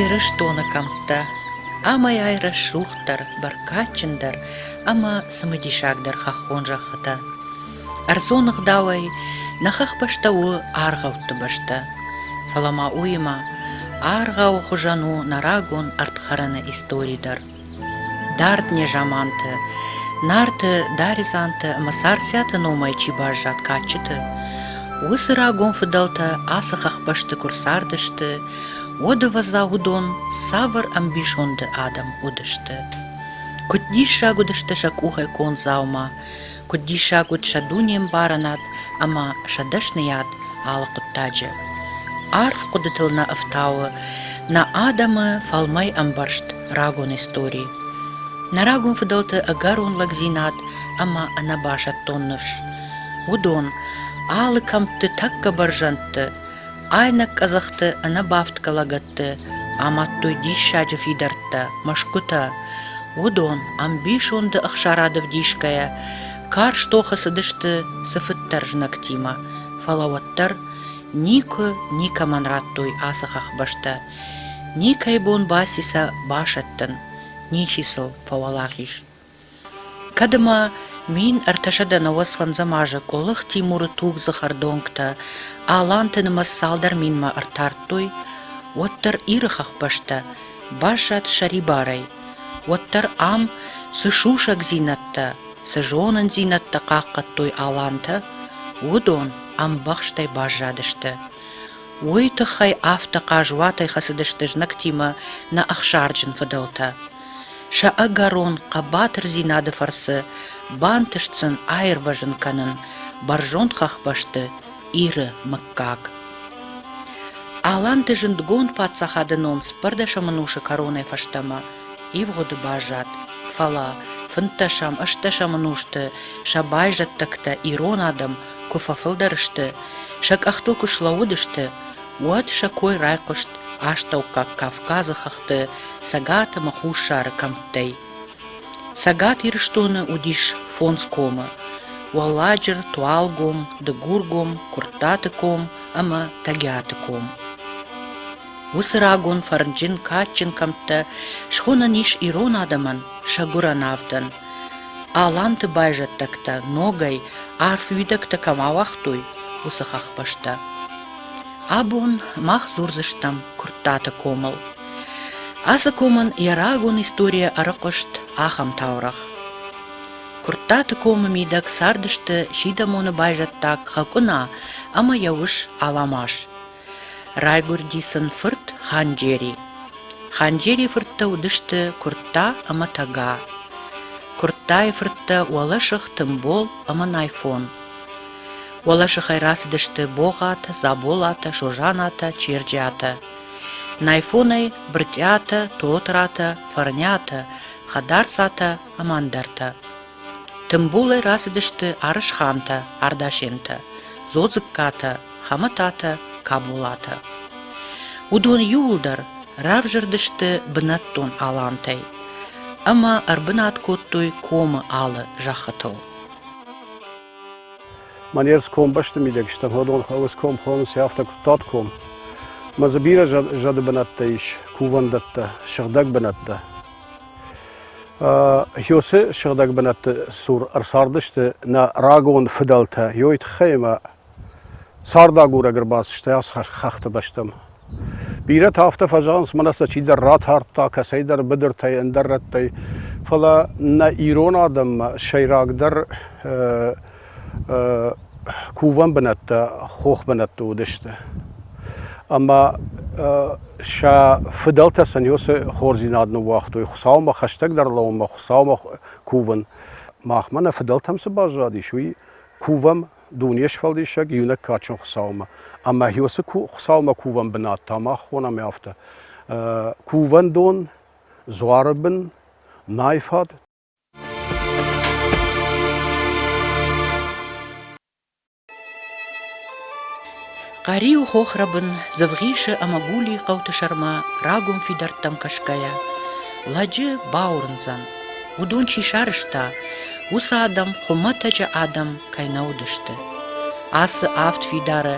Ирыстоны кӕмттӕ амӕй-ай рӕсугъддӕр, бӕркадджындӕр ӕмӕ цымыдисагдӕр хӕххон зӕххытӕ. Ӕрдзон ӕгъдауӕй нӕ хӕхбӕстӕ у аргъӕутты бӕстӕ, фӕлӕ ма уыимӕ аргъауы хуызӕн у нӕ рагон ӕрдхӕрӕны истори дӕр. Дард незаманты, Нарты, Даредзанты ӕмӕ Царциаты номӕй чи баззад кадджыты, уыцы рагон фыдӕлтӕ ацы хӕхбӕсты куы рцардысты, уӕд, ӕвӕдза, уыдон цавӕр ӕмбисонды адӕм уыдысты. Куыд диссаг уыдысты сӕ къухӕй конд дзаума, куыд диссаг уыд сӕ дунембарынад ӕмӕ сӕ дӕсныйад алы хъуыддаджы. Арф хъуыдытыл нӕ ӕфтауы нӕ адӕмы фӕлмӕй ӕмбӕрст рагон истори. Нӕ рагон фыдӕлты ӕгӕрон лӕгдзинад ӕмӕ ӕнӕбасӕттон ныфс. Уыдон, алы кӕмтты тӕккӕ бӕрзӕндты, Айнӕг къӕдзӕхты ӕнӕбафтгӕ лӕгӕтты амадтой диссаджы фидӕрттӕ, мӕсгуытӕ. Уыдон, ӕмбисонды ӕхсарады вдисгӕйӕ, карз тохы цыдысты цыфыддӕр знӕгтимӕ, фӕлӕ уӕддӕр никуы никӕмӕн радтой ацы хӕхбӕстӕ. Никӕй бон баци сӕ басӕттын, ничи сыл фӕуӕлахиз. Кӕд ӕмӕ мин ӕртӕсӕдӕ науӕдз фӕндзӕм азы Къуылых Тимуры тугдзых ӕрдонгтӕ Аланты нымӕц цалдӕр минмӕ ӕртардтой, уӕддӕр Иры хӕхбӕстӕ баззад сӕрибарӕй, уӕддӕр ам цы сусӕгдзинӕдтӕ, цы зонындзинӕдтӕ хъахъхъӕдтой алантӕ, уыдон ӕмбӕхстӕй баззадысты. Уый тыххӕй афтӕ хъазуатӕй хӕцыдысты знӕгтимӕ нӕ ӕхсарджын фыдӕлтӕ. Сӕ ӕгӕрон хъӕбатырдзинады фӕрцы бантыст сын аирвӕзын кӕнын бӕрзонд хӕхбӕсты Иры мыггаг. Аланты зындгонд паддзахады ном спӕрдӕсӕмӕнусы кӕронӕй фӕстӕмӕ ивгъуыды баззад, фӕлӕ фынддӕсӕм-ӕстдӕсӕмӕн узты сӕ байзӕддӕгтӕ ирон адӕм куы фӕфылдӕр сты, сӕ къӕхтыл куы слӕууыдысты, Уӕд сӕ кой райхъуыст Астӕуккаг Кавказы хӕхты Цӕгат ӕмӕ Хуссары кӕмттӕй. Цӕгат Ирыстоны уыдис фондз комы – Уӕлладжыр, Туалгом, Дыгургом, Куырттаты ком ӕмӕ Тӕгиаты ком. Уыцы рагон фӕрнджын, кадджын кӕмттӕ схонӕн ис ирон адӕмӕн сӕ гуырӕн авдӕн. Аланты байзӕддӕгтӕ ногӕй арф уидӕгтӕ кӕм ауагътой, уыцы хӕхбӕстӕ. Абон мах дзурдзыстӕм Куырттаты комыл. Ацы комӕн йӕ рагон историйӕ ӕрыхъуыст ахӕм таурӕгъ. Куырттаты комы мидӕг цардысты сидӕмоны байзӕддаг Хӕкъуына ӕмӕ йӕ ус Аламаз. Райгуырди сын фырт Ханджери. Ханджерийы фырттӕ уыдысты Куыртта ӕмӕ Тӕга. Куырттайы фырттӕ уӕлӕсых Тымбол ӕмӕ Найфон. Уӕлӕсыхӕй рацыдысты Богъатӕ, Заболатӕ, Созанатӕ, Черджиатӕ. Найфонӕй Брытъиатӕ, Тотратӕ, Фӕрниатӕ, Хӕдарцатӕ ӕмӕ ӕндӕртӕ. Тымбулӕй рацыдысты Арысхантӕ, Ардашентӕ, Зодзыккатӕ, Хӕмӕтатӕ, Каболатӕ. Уыдон иууылдӕр равзӕрдысты бынӕттон алантӕй ӕмӕ ӕрбынат кодтой комы алы зӕххытыл. Манер ском бӕсты мидӕгстӕн уӕдон хъӕуы ском хонынц афтӕ куыдтат ком. Мӕ дзы бирӕ зӕды бынӕттӕ ис, кувӕндӕттӕ, сыгъдӕг бынӕттӕ. Хёсы сыгъдӕг бынӕтты цур ӕрцардысты нӕ рагон фыдӕлтӕ. Ёй тыххӕй ӕмӕ Цардагурӕг ӕрбацыдыстӕй ацы хӕхты бӕстӕмӕ. Бирӕтӕ афтӕ фӕзӕгъынц, мӕнӕ сӕ чидӕр ратардта, кӕцӕйдӕр быдыртӕй, ӕндӕр рӕттӕй. Фӕлӕ нӕ ирон адӕммӕ сӕйрагдӕр кувӕн бынӕттӕ хох бынӕтты уыдысты. Ӕмӕ сӕ фыдӕлтӕ сын-иу цы хорздзинад ныууагътой, Хуыцаумӕ хӕстӕгдӕр лӕуынмӕ, Хуыцаумӕ кувын. Махмӕ нӕ фыдӕлтӕм цы баззадис, уый кувӕм Дуне сфӕлдисӕг иунӕг кадджын Хуыцаумӕ. Ӕмӕ уыцы Хуыцаумӕ кувӕн бынат та мах хонӕм афтӕ. Кувӕндон, дзуары бын, нӕй фӕд. Къӕриу хохрӕбын Дзывгъисы ӕмӕ Гулийы хъӕуты сӕрмӕ рагон фидӕрттӕм кӕсгӕйӕ лӕджы бауырндзӕн, уыдон чи сарӕзта, уыцы адӕм хуымӕтӕджы адӕм кӕй нӕ уыдысты. Ацы авд фидары,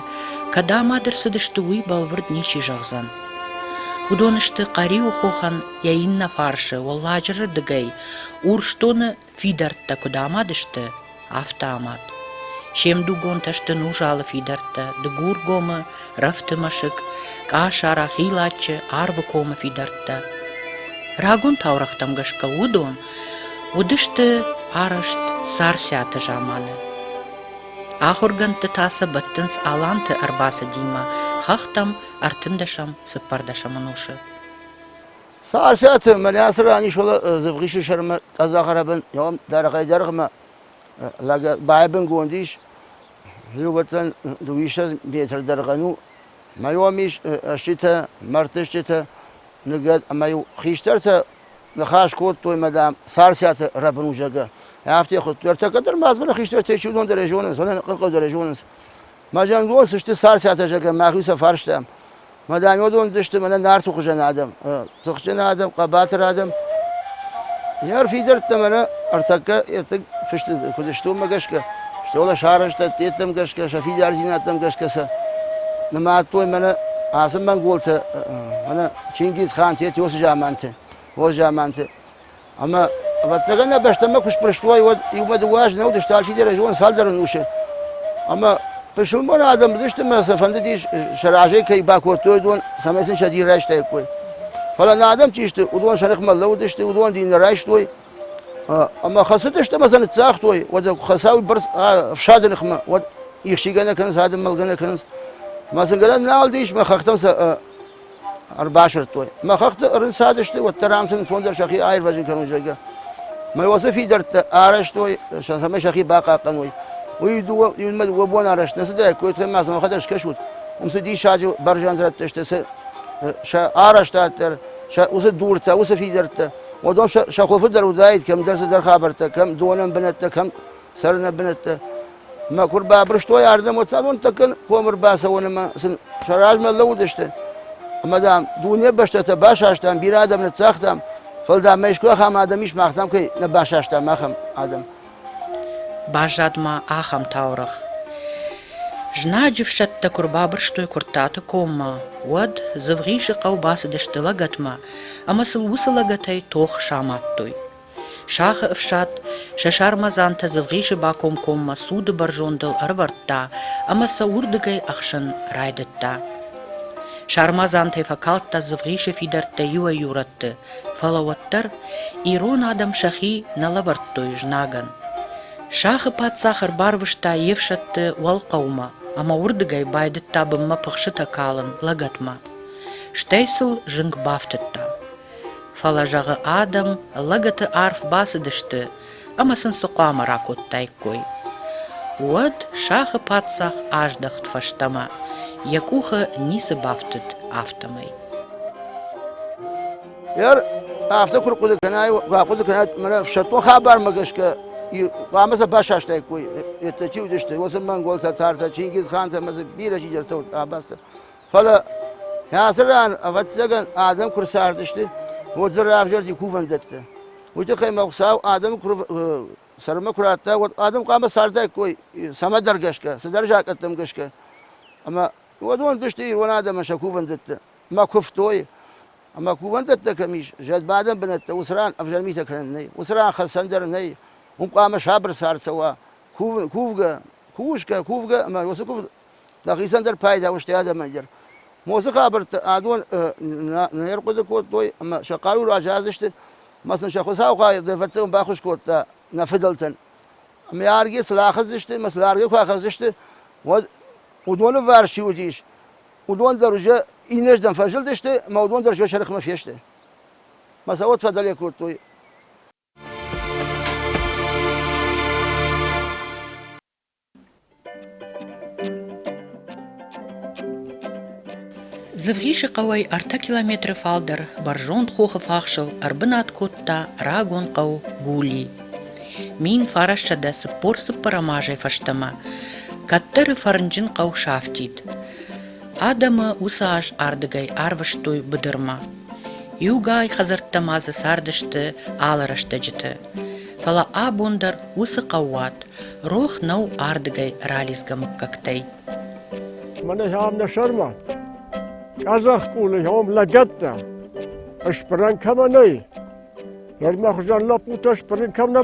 кӕд амад ӕрцыдысты, уый бӕлвырд ничи зӕгъдзӕн. Уыдон сты Хъӕриуы хохӕн йӕ иннӕ фарсы, Уӕлладжыры дыгӕй, Урсдоны Фидӕрттӕ куыд амад сты, афтӕ амад. Се мдугонтӕ сты Нужалы фидӕрттӕ, Дыгургомы, Рӕфты мӕсыг, Къасара, Хилаччы, Арвыкомы фидӕрттӕ. Рагон таурӕгътӕм гӕсгӕ уыдон уыдысты арӕзт Царциаты заманы. Ахуыргӕндты та сӕ бӕттынц аланты ӕрбацыдимӕ хӕхтӕм ӕртындӕсӕм-цыппӕрдӕсӕм ӕнусы. Сарсӕты мӕнӕцы ран исола Зывгъисы сӕрмӕ къӕдзӕхарӕбын йом дӕргъӕй-дӕргъмӕ лӕг байбынгонд ис. Иугӕдзӕн дыууиссӕдз метр дӕргъӕн у. Мӕ йом ис стджытӕ, мӕрдтыстджытӕ, ныгӕд ӕмӕ-иу хистӕртӕ ныхас кодтой, мадам, Сарсӕты рӕбын у, зӕгъгӕ. Афтӕ хуыдтой. Ӕртӕ кӕддӕр ма дзы нӕ хистӕртӕ чи уыдон дӕр ӕй зонынц, уонӕн хъыгъау дӕр ӕй зонынц. Мӕ зӕнгон сысты царцатӕ, зӕгӕн, мӕхи сӕ фарстам. Мӕ дӕнйодон уыдысты мӕнӕ нарты хуызӕн адӕм, тыхджын адӕм, хъӕбатыр адӕм. Ме рфидӕрттӕ мӕнӕ ӕртӕккӕ етыг фысты куыд сты уымӕ гӕсгӕ, стол сарӕзтӕдты йеддӕм гӕсгӕ, сӕ фидардзинӕдтӕм гӕсгӕ сӕ нымадтой мӕнӕ ацы монголтӕ, мӕнӕ Чингизхан, Тет уыцы заманты, уыцы заманты. Ӕма, ӕвӕццӕгӕн, нӕ бӕстӕмӕ куд спрыст уай, уӕд иумӕ дыууӕ азы нӕ уыдысты, алчидӕр ӕй зоны цалдӕр ӕнусы. Ӕма пысылмон адӕм уыдысты ӕмӕ сӕ фӕндыдис, сӕ разӕй кӕй бакодтой, уыдон, цӕмӕй сын сӕ дин райстаиккой. Фӕлӕ нӕ адӕм чи сты, уыдон сӕ ныхмӕ лӕууыдысты, уыдон дин нӕ райстой. Ӕмӕ хӕцыдысты ӕмӕ сӕ ныццагътой, уӕд хӕцауи бӕрц ӕфсады ныхмӕ, уӕд ихсигӕ нӕ кӕнынц, адӕм мӕлгӕ нӕ кӕнынц. Ӕмӕ сын гӕнӕн нал ис, мӕ хӕхтӕм сӕ ӕрбасырдтой. Мӕ хӕхты ӕрынцадысты, уӕддӕр ам сын ӕнцондӕр сӕхи аирвӕзын кӕнон, зӕгъгӕ. Мӕ уацы фидӕрттӕ арӕзтой, цӕмӕй сӕхи бахъахъхъӕной. Уый дыууӕ, июньмӕ дыууӕ бон арӕзт нӕ цыдаид, куыйтӕ ма сӕ мӕхӕдӕг скӕсут. Уым цы диссаджы бӕрзӕндрӕттӕ сты, сӕ, сӕ арӕзтад дӕр, сӕ уыцы дуртӕ, уыцы фидӕрттӕ. Уыдон сӕ, сӕ хуылфы дӕр уыдаид кӕмдӕр цыдӕр хабӕрттӕ, кӕм донӕн бынӕттӕ, кӕм цӕрыны бынӕттӕ. Мӕ куы рбабырстой ардӕм, уӕд цӕвӕнттӕ комы рбацӕуон ӕмӕ сын сӕ размӕ лӕууыдысты. Ӕмӕ, дам, дуне бӕстӕтӕ басастам, бирӕ адӕм ныццагътам, фӕлӕ, дам, мӕ искуы ахӕм адӕм ис, мах, дам, кӕй нӕ басастам, ахӕм адӕм. Баззад ма ахӕм таурӕгъ. Знаджы фсӕдтӕ куы рбабырстой Куырттаты коммӕ, уӕд Дзывгъисы хъӕу бацыдысты лӕгӕтмӕ ӕмӕ сыл уыцы лӕгӕтӕй тох самадтой. Сахы ӕфсад сӕ сармадзантӕ Дзывгъисы бакомкоммӕ суды бӕрзондыл ӕрӕвӕрдта ӕмӕ сӕ уырдыгӕй ӕхсын райдыдта. Сармадзантӕй фӕкалдта Дзывгъисы фидӕрттӕ иуӕй-иу рӕтты, фӕлӕ уӕддӕр ирон адӕм сӕхи нӕ лӕвӕрдтой знагӕн. Сахы паддзах ӕрбарвыста йе фсӕдты уӕлхъӕумӕ ӕмӕ уырдыгӕй байдыдта бынмӕ пыхсытӕ калын лӕгӕтмӕ. Стӕй сыл зынг бафтыдта. Фӕлӕ, зӕгъы адӕм, лӕгӕты арф бацыдысты ӕмӕ сын цы хъуамӕ ракодтаиккой. Уӕд сахы паддзах аздӕхт фӕстӕмӕ, йӕ къухы ницы бафтыд, афтӕмӕй. Ӕр афтӕ куы рхъуыды кӕнай, куы ахъуыды кӕнай, мӕнӕ ӕфсӕддон хабармӕ гӕсгӕ хъуамӕ сӕ басастаиккой, еттӕ чи уыдысты, уыцы монголтӕ, тартӕ, чингизхантӕ ӕмӕ дзы бирӕ чидӕртӕ уыд, абазтӕ. Фӕлӕ ацы ран, ӕвӕццӕгӕн, адӕм куы рцардысты, уӕд дзы равзӕрди кувӕндӕттӕ. Уый тыххӕй мӕ Хуыцау адӕмы куы сӕрмӕ куы радта, уӕд адӕм хъуамӕ цардаиккой цӕмӕдӕр гӕсгӕ, цыдӕр закъӕттӕм гӕсгӕ. Ӕмӕ уыдон уыдысты ирон адӕмӕн сӕ кувӕндӕттӕ ӕмӕ куывтой. Ӕмӕ кувӕндӕттӕ кӕм ис, зӕдбадӕн бынӕттӕ уыцы ран ӕвзӕрмитӕ кӕнӕн нӕй, уыцы ран хӕцӕн дӕр нӕй. Уым хъуамӕ сабыр цард цӕуа, кувгӕ, кусгӕ, кувгӕ ӕмӕ уыцы кув Дӕхицӕн дӕр пайда устӕй адӕмӕн дӕр. Моцы хабӕрттӕ адон не рхъуыды кодтой ӕмӕ сӕ хъару разадзысты ӕмӕ сын сӕ Хуыцау хай дӕрвӕттӕн баххуыс кодта нӕ фыдӕлтӕн. Ӕмӕ аргӕ цы рахӕцдзысты ӕмӕ цы аргӕ куы ахӕцдзысты, уӕд уыдоны варс чи уыдис, уыдон дӕр уже иннӕрдӕм фӕзылдысты ӕмӕ уыдон дӕр уже сӕрыхмӕ фесты. Ӕмӕ сӕ уӕд фӕдӕле кодтой. Дзывгъисы хъӕуӕй ӕртӕ километры фалдӕр бӕрзонд хохы фахсыл ӕрбынат кодта рагон хъӕу Гули. Мин фарӕссӕдӕ цыппор цыппӕрӕм азӕй фӕстӕмӕ кӕддӕры фӕрнджын хъӕу сафтид. Адӕмы уыцы аз ардыгӕй арвыстой быдырмӕ. Иугай хӕдзӕрттӕ ма дзы цардысты алы рӕстӕджыты. Фӕлӕ абон дӕр уыцы хъӕууат рох нӕу ардыгӕй ралидзгӕ мыггӕгтӕй. Мӕнӕ ам нӕ сӕрмӕт. Къӕдзӕхкъулы ом лӕгӕттӕ. Ыспырӕн кӕмӕ нӕй. Лӕрмӕ хуызӕн лӕппутӕ ыспырын кӕм нӕ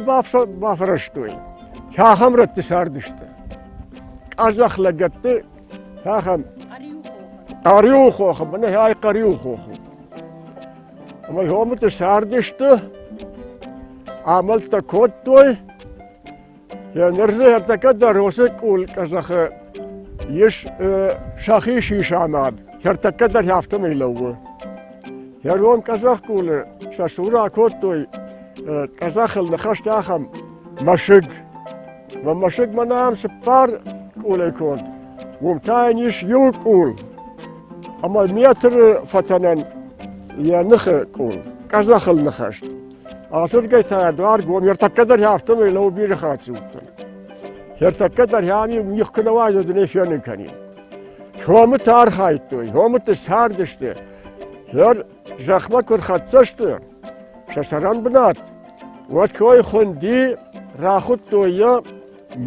бафрӕзтой. Кӕхӕм рӕтты цардысты. Къӕдзӕх лӕгӕтты Ахӕм Хъӕриуы хохы, мӕнӕ ай Хъӕриуы хохы. Ӕмӕ хомыты сардысты, амӕлттӕ кодтой. Йӕ нырзы ӕртӕкӕ дӕр уыцы къул къӕзӕхы ис сӕхи сисамад. Ӕртӕкӕ дӕр афтӕмӕй лӕууы. Ӕргом къӕзӕхкъулы сӕ сура кодтой, къӕзӕхыл ныхӕсты ахӕм мӕсыг. Мӕ мӕсыг мӕнӕн цыппар къулӕй конд, уым та йын ис иу къул ӕмӕ метры фӕтӕнӕн йӕ ныхы къул, къӕдзӕхыл ныхӕст. Ацыргӕй та дуар гом, ертӕккӕ дӕр афтӕмӕй лӕуу бирӕ хатт уыдтӕн. Ӕртӕккӕ дӕр ам мих куы нӕ уайдзӕ, ды не фенын кӕнин. Комы та архайдтой, комыты цардысты. Хӕр Зӕхмӕ куы рхӕццӕ сты сӕ сӕрӕн бынат, уӕд кой хуынди рахуыдтой йӕ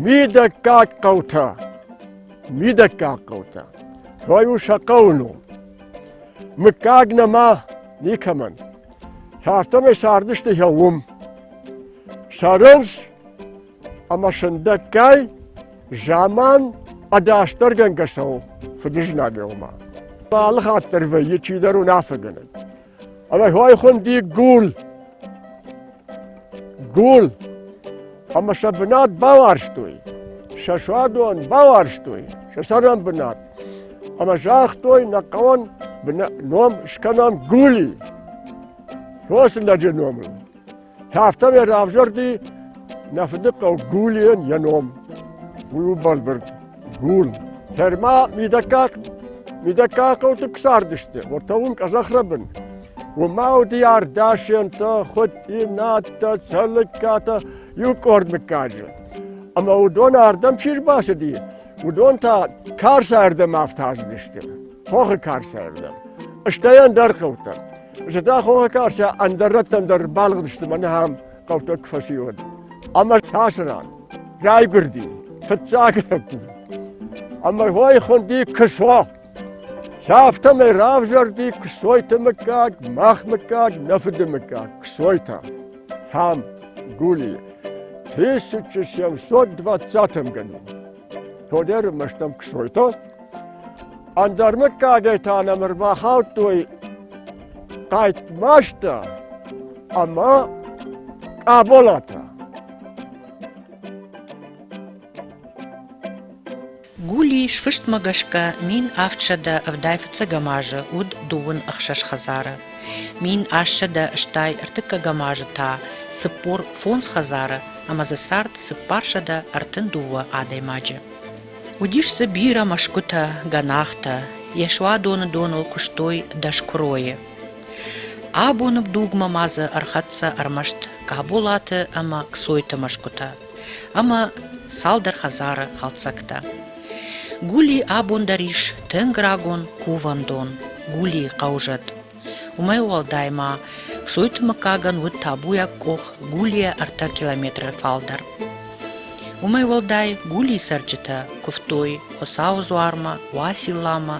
мидӕггаг хъӕутӕ. Мидӕггаг хъӕутӕ. Кой у сӕ хъӕуы ном. Мыггаг нӕма никӕмӕн. Афтӕмӕй цардысты йӕ уым. Сӕрынц ӕма сӕндӕггай заман ӕдасдӕргӕнгӕ цӕуы фыдызнагелмӕ. Алыхатт дӕр вӕййы чидӕр уынаффӕгӕнӕг. Ӕмӕ хуайхуынди гул. Гул. Ӕмӕ сӕ бынат бауарзтой. Сӕ суадон бауарзтой, сӕ цӕрӕнбынат. Ӕмӕ загътой нӕ хъӕуӕн ном скӕнӕм Гули. Фосы лӕджы номыл. Афтӕмӕй равзӕрди нӕ фыдыхъӕу Гулийӕн йӕ ном. Уый у бӕлвырд гул. Тӕрма мидӕггаг мидӕггаг хъӕуты куы цардысты, уӕртӕ уым къӕдзӕхрӕбын. Уымӕ уыди ардасӕнтӕ, хуыд иннӕтӕ, цӕлыккатӕ, иу къорд мыггаджы. Ӕмӕ уыдон ардӕм чи рбацыди, уыдон та карсӕрдӕм афтаздысты, хохы карсӕрдӕм, стӕй ӕндӕр хъӕутӕм. Зыдта хохы карсӕ ӕндӕр рӕттӕн дӕр балыгъдысты мӕнӕ ахӕм хъӕутӕ куы фӕци уӕд. Ӕмӕ тасы ран райгуырди фыццаг лӕппу. Ӕмӕ уой хуынди Кысо. Афтӕмӕй равзӕрди Ксойты мыггаг, мах мыггаг, нӕ фыды мыггаг Ксойтӕ. Хам, Гули, 1720 гады. Тодер мыстам ксойто. Андармыккагӕй та нӕм ӕрбахаудтой Тайтмашта ӕмӕ Къаболата. Гули, сфыстмӕ гӕсгӕ, мин авдсӕдӕ ӕвдай фыццӕгӕм азы уыд дыууын ӕхсӕз хӕдзары. Мин ассӕдӕ стай ӕртыккӕгӕм азы та цыппор фондз хӕдзары ӕмӕ дзы цард цыппарсӕдӕ ӕртын дыууӕ адӕймаджы. Уыдис дзы бирӕ мӕсгуытӕ, гӕнахтӕ, йӕ суадоны доныл куыстой дӕскуыройы. Абоны дугмӕ ма дзы ӕрхӕццӕ ӕрмӕст Каболаты ӕмӕ Ксойты мӕсгуытӕ ӕмӕ цалдӕр хӕдзары хӕлцӕгтӕ. Гули абон дӕр ис тынг рагон кувӕндон Гулийы хъӕузӕд. Уымӕй уӕлдай ма Псойты мыггагӕн уыд табуйаг къох Гулийӕ ӕртӕ километры фалдӕр. Уымӕй уӕлдай Гулийы цӕрджытӕ куывтой Хуыцауы дзуармӕ, Уацилламӕ,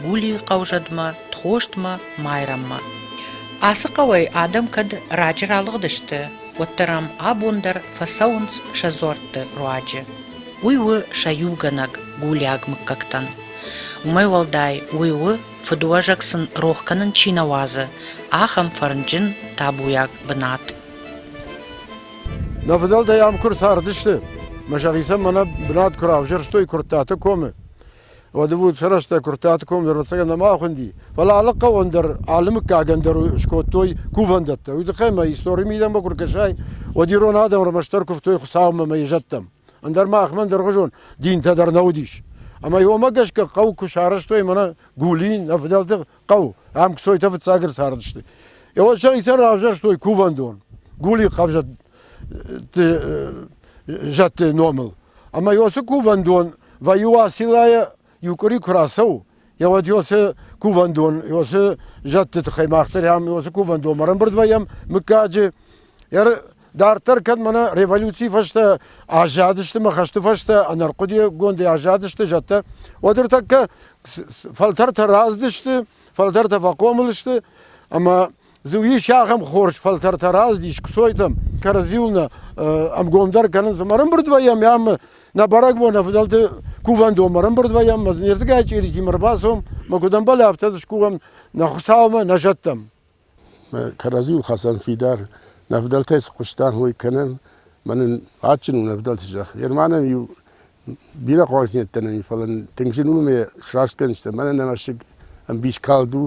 Гулийы хъӕузӕдмӕ, Тхостмӕ, Майрӕммӕ. Ацы хъӕуӕй адӕм кӕд раджы ралыгъдысты, уӕддӕр ам абон дӕр фӕцӕуынц сӕ дзуӕртты руаджы. Уый у сӕ иугӕнӕг гулиаг мыггӕгтӕн. Уымӕй уӕлдай уый у Фыдуӕзӕг сын рох кӕнын чи нӕ уадзы, ахӕм фӕрнджын, табуйаг бынат. Нӕ фыдӕлтӕй ам куы рцардысты, мӕ сӕхицӕн мӕнӕ бынат куы равзӕрстой Куырттаты комы, уӕд ӕвуд сӕ рӕстӕг Куырттаты ком дӕр ӕцӕгӕн нӕма хуынди, фӕлӕ алы хъӕуӕн дӕр, алы мыггагӕн дӕр скодтой кувӕндӕттӕ. Уый тыххӕй мӕ истори мидӕмӕ куы ркӕсай, уӕд ирон адӕм ӕрмӕстдӕр куывтой Хуыцаумӕ мӕ йӕ зӕдтӕм. Ӕндӕр ма мӕн дыргъзон динтӕ дӕр нӕ уыдис. Ӕмӕ уымӕ гӕсгӕ хъӕу куы сарӕзтой мӕнӕ Гулин, ӕвдӕлды хъӕу, ам кцойтӕ фыццаг ӕрцардысты. Его сӕхицӕн равзӕрстой кувӕндон Гули хъӕвзӕтты номыл. Ӕмӕ уыцы кувӕндон вӕййы Уациллайы иу къуыри куы рацӕуы, йӕ уӕд йосы кувӕндон, йосы зӕдты тыххӕй мах дӕр ам йосы кувӕндонмӕ ӕрӕмбырд вӕййӕм мыггаджы. Дарддӕр кӕд мӕнӕ революцийы фӕстӕ аззадысты мӕ хӕсты фӕстӕ ӕнӕрхъуыдыйӕгдзадысты аззадысты зӕдтӕ, уӕд ӕртӕккӕ фӕлтӕртӕ раздысты, фӕлтӕртӕ фӕхъомыл сты, ӕмӕ Ис ахӕм хорз фӕлтӕртӕ раздис кцойтӕм, кӕрӕдзиуыл ӕмгомдӕр кӕнынц. Ӕмӕрымбырдвӕййӕм ӕм нӕ бӕрӕгбон ӕвдӕлты кувӕндонмӕ ӕрымбырдвӕййӕм, мӕ зынирдыгӕй чъиритимӕ ӕрбацом, мӕ куыд ӕмбӕлы, афтӕ дзы скувӕм нӕ Хуыцаумӕ, нӕ зӕдтӕм. Кӕрӕдзиуыл хӕцӕн фидар нӕ ӕвдӕлтӕй цы хъуыстам, уый кӕнӕм. Мӕн ын адджын у нӕ ӕвдӕлты зӕхх. Германӕн иу бирӕ хъуагдзинӕдтӕ нӕми, фӕлӕ тынг зын у ме сраст кӕнынстӕ. Мӕнӕ нӕ мӕсыг ӕмбис калд у,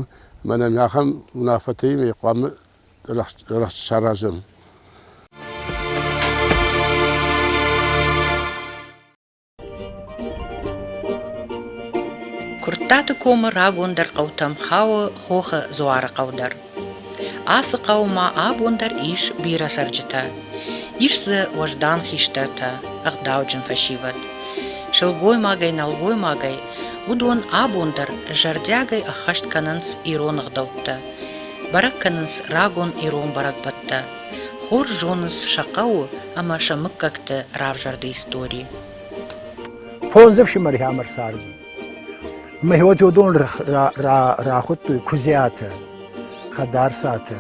мӕнӕ ме ахӕм уынаффӕтӕй ме хъуамӕ рӕхст саразӕм. Куырттаты комы рагондӕр хъӕутӕм хауы Хохы Дзуары хъӕу дӕр. Ацы хъӕумӕ абон дӕр ис бирӕ цӕрджытӕ. Ис дзы уӕздан хистӕртӕ, ӕгъдауджын фӕсивӕд. Сылгоймагӕй, нӕлгоймагӕй, уыдон абон дӕр зӕрдиагӕй ӕххӕст кӕнынц ирон ӕгъдӕуттӕ, бӕрӕг кӕнынц рагон ирон бӕрӕгбӕттӕ, хорз зонынц сӕ хъӕуы ӕмӕ сӕ мыггӕгты равзӕрды истори. Фондз ӕфсымӕры ӕмӕ царди. Мегьводиодон рахуыдтой куыдзиатӕ, хӕдарцатӕ,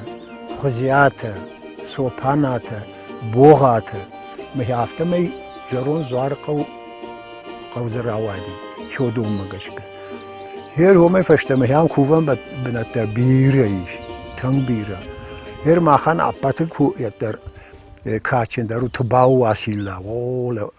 хуызиатӕ, цопанатӕ, богъатӕ. Мӕ афтӕмӕй зӕронд Дзуары хъӕу хъӕу дзы рауади Хёдоммӕ гӕсгӕ. Гъер уымӕй фӕстӕмӕ ахӕм кувӕн бынӕттӕ бирӕ ис, тынг бирӕ. Гъер махӕн ӕппӕты куыддӕр кадджындӕр у Тыбауы Уасилла. О,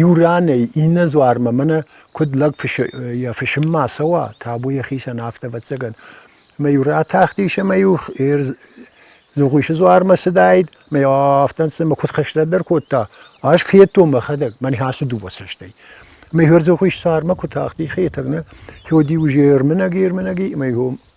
Иу ранӕй иннӕ дзуармӕ мӕнӕ куыд лӕг йӕ фысыммӕ ацӕуа, табу йӕхицӕн, афтӕ, ӕвӕццӕгӕн. Ӕмӕ-иу ратахтис ӕмӕ-иу Дзугъуисы дзуармӕ цыдаид, ӕмӕ-иу афтӕ ӕнцон куыд хӕстӕг дӕр кодта. Ӕз федтон мӕхӕдӕг, мӕнӕ ацы дыууӕ цӕстӕй. Ӕмӕ-иу Дзугъуис цармӕ куы тахти, Хетӕг, нӕ, уыди уже ӕрмынӕг, ӕрмынӕг и, ӕмӕ-иу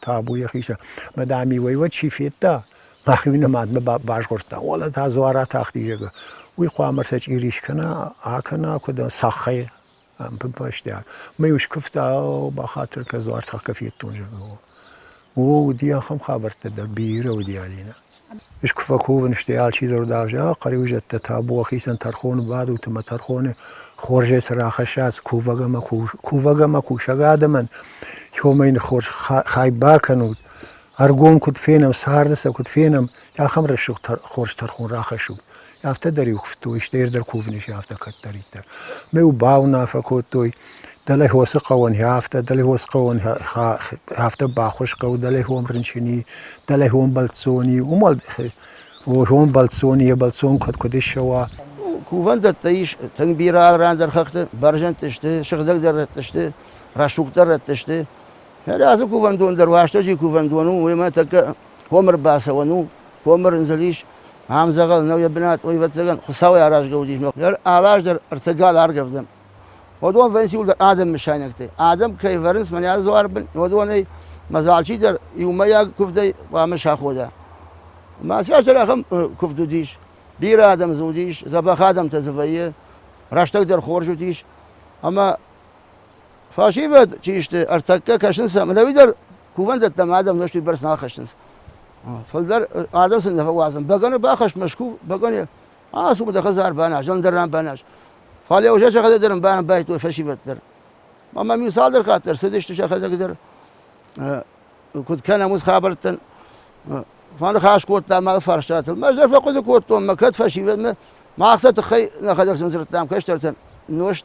табу йӕхи сӕр. Мӕ дами уӕйуат чи федта, мӕхи нымадмӕ базгъордта. Уӕлӕ та дзуар атахти, зӕгъы. Уый хъуамӕ сӕ чъири скӕна, акӕна, куыд цаххӕй ӕмпынфӕстиаг. Мӕ-иу скуывта, бахатыр кӕ, дзуар цаххӕ федтон, зӕгъы. О, уыди ахӕм хабӕрттӕ дӕр, бирӕ уыди, Алинӕ. Искуы фӕкувын, стӕй алчи дӕр дӕр зӕгъа, хъӕриуызӕттӕ табуа хицӕн тӕрхоны бадут ӕмӕ тӕрхоны хорзӕй цы рахӕсса, цы кувӕг ӕмӕ кувӕг ӕмӕ кусӕг адӕмӕн хомӕй хорз хай бакӕнут, ӕргом куыд фенӕм, царды сӕ куыд фенӕм, ахӕм рӕсугъд хорз тӕрхон рахӕссут. Афтӕ дӕр иу хуыдтой, стӕй ир дӕр кувын ис, афтӕ кӕддӕриддӕр. Ме-иу бауынаффӕ кодтой, дӕлӕ хосы хъӕуӕн хӕ афтӕ, дӕлӕ хос хъӕуӕн афтӕ баххуыс хъӕуы, дӕлӕ хом рынчыни, дӕлӕ хом бӕлццони, уымӕл хом бӕлццони, йӕ бӕлццон куыд куыд ссӕуа. Кувӕндӕттӕ ис, тынг бирӕ арӕндӕр хӕхты, бӕрзӕндты сты, сыгъдӕгдӕр рӕтты сты, рӕсугъддӕр рӕтты сты. Рацы кувӕндон дӕр, Уастӕджи кувӕндон у, уемӕ тӕккӕ комы рбацӕуӕн у, комы рындзыл ис, ам дзӕгъӕл нӕу йӕ бынат, ӕвӕццӕгӕн, Хуыцауӕй аразгӕ уыдис, ныр алаз дӕр ӕртӕ гал аргӕвдӕм. Уыдон вӕййынц иуылдӕр адӕм мысайнӕгтӕй. Адӕм кӕй вӕрынц мӕнӕ дзуарбын, уыдонӕй мӕ дзы алчидӕр иумӕйаг куывдӕй хъуамӕ сахода. Мӕ сӕсӕр ахӕм куывд уыдис. Бирӕ адӕм дзы уыдис, дзӕбӕх адӕмтӕ дзы вӕййы, рӕстӕг дӕр хорз уыдис. Ӕмӕ Фӕсивӕд чи сты, ӕртӕккӕ кӕсынц сӕм, ӕви дӕр кувӕндӕттӕм адӕм нозтуй бӕрц нӕ ахӕссынц. Фӕлдӕр адӕм сын нӕ фӕуадзын. Бӕгӕны бахӕсс Мӕскув, бӕгӕны, ацу-ма дӕ хӕдзар баназ, ӕндӕр ран баназ. Фӕлӕ уже сӕхӕдӕг дӕр банбайдтой фӕсивӕд дӕр. Ма мӕм иу цалдӕр хатт дӕр цыдысты сӕхӕдӕг дӕр. Куыд кӕнӕм уыцы хабӕрттӕн. Фӕныхас кодтам мӕ фарстатыл. Ӕз дӕр фӕхъуыды кодтон, мӕ кӕд фӕсивӕдмӕ, мах сӕ тыххӕй нӕхӕдӕг сын дзырдтам кӕстӕртӕн, нозт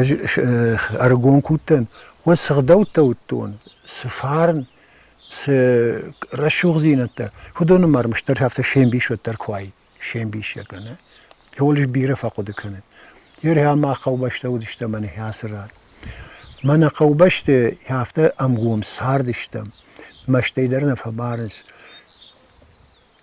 Ӕз ӕргом куы уыдтӕн, уӕд цы гъдӕуттӕ уыдтон, цы фарн, цы рӕсугъддзинӕдтӕ, уыдоны ма ӕрмӕстдӕр афтӕ се мбисод дӕр куы уаид, се мбисӕ кӕнӕ. Иууыл ис бирӕ фӕхъуыды кӕнын. Ныр ӕмӕ хъӕубӕстӕ уыдысты мӕнӕй ацы ран. Мӕ нӕ хъӕубӕсты афтӕ ӕмгом цардыстӕм, мӕстӕйдӕр нӕ фӕбарынц.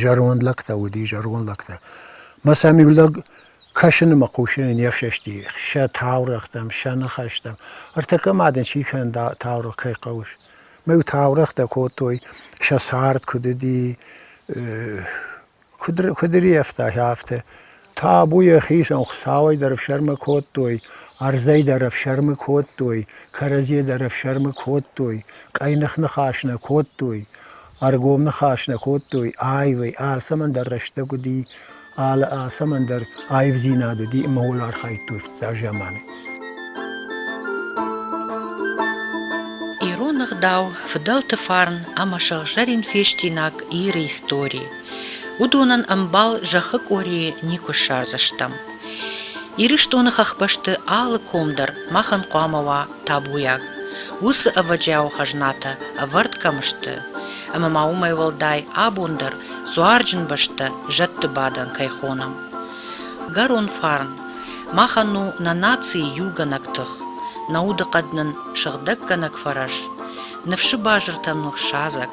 Зӕронд лӕгтӕ уыди, зӕронд лӕгтӕ. Мӕ сӕм иу лӕг кӕсыны мӕ хъусыны не фсӕсти сӕ таурӕгътӕм, сӕ ныхӕстӕм. Ӕртӕккӕ ма дын чи кӕны таурӕгъ, кӕй хъӕуыс? Мӕ-иу таурӕгътӕ кодтой, сӕ цард куыд уыди, куыд ри куыд риӕфта афтӕ. Табу йӕхицӕн, Хуыцауӕй дӕр ӕфсӕрмы кодтой, ӕрдзӕй дӕр ӕфсӕрмы кодтой, кӕрӕдзийӕ дӕр ӕфсӕрмы кодтой, къӕйных ныхас нӕ кодтой, ӕргом ныхас нӕ кодтой, аивӕй алцӕмӕн дӕр рӕстӕг уыди, алы алцӕмӕн дӕр аивдзинад уыди ӕмӕ ууыл архайдтой фыццаг заманы. Ирон ӕгъдау, фыдӕлты фарн ӕмӕ сыгъзӕрин фестинаг Иры историйы Уыдонӕн ӕмбал зӕххы къорийы никуы ссардзыстӕм. Ирыстоны хӕхбӕсты алы ком дӕр махӕн хъуамӕ уа табуйаг. Уыцы ӕвӕджиауы хӕзнатӕ ӕвӕрд кӕм сты, ӕмӕ ма уымӕй уӕлдай абон дӕр дзуарджын бӕстӕ зӕдты бадӕн кӕй хонӕм. Гӕрон фарн. Махӕн у нӕ нацийы иугӕнӕг тых, нӕ удыхъӕд нын сыгъдӕггӕнӕг фӕрӕз, ныфсы базыртӕн ныхсадзӕг.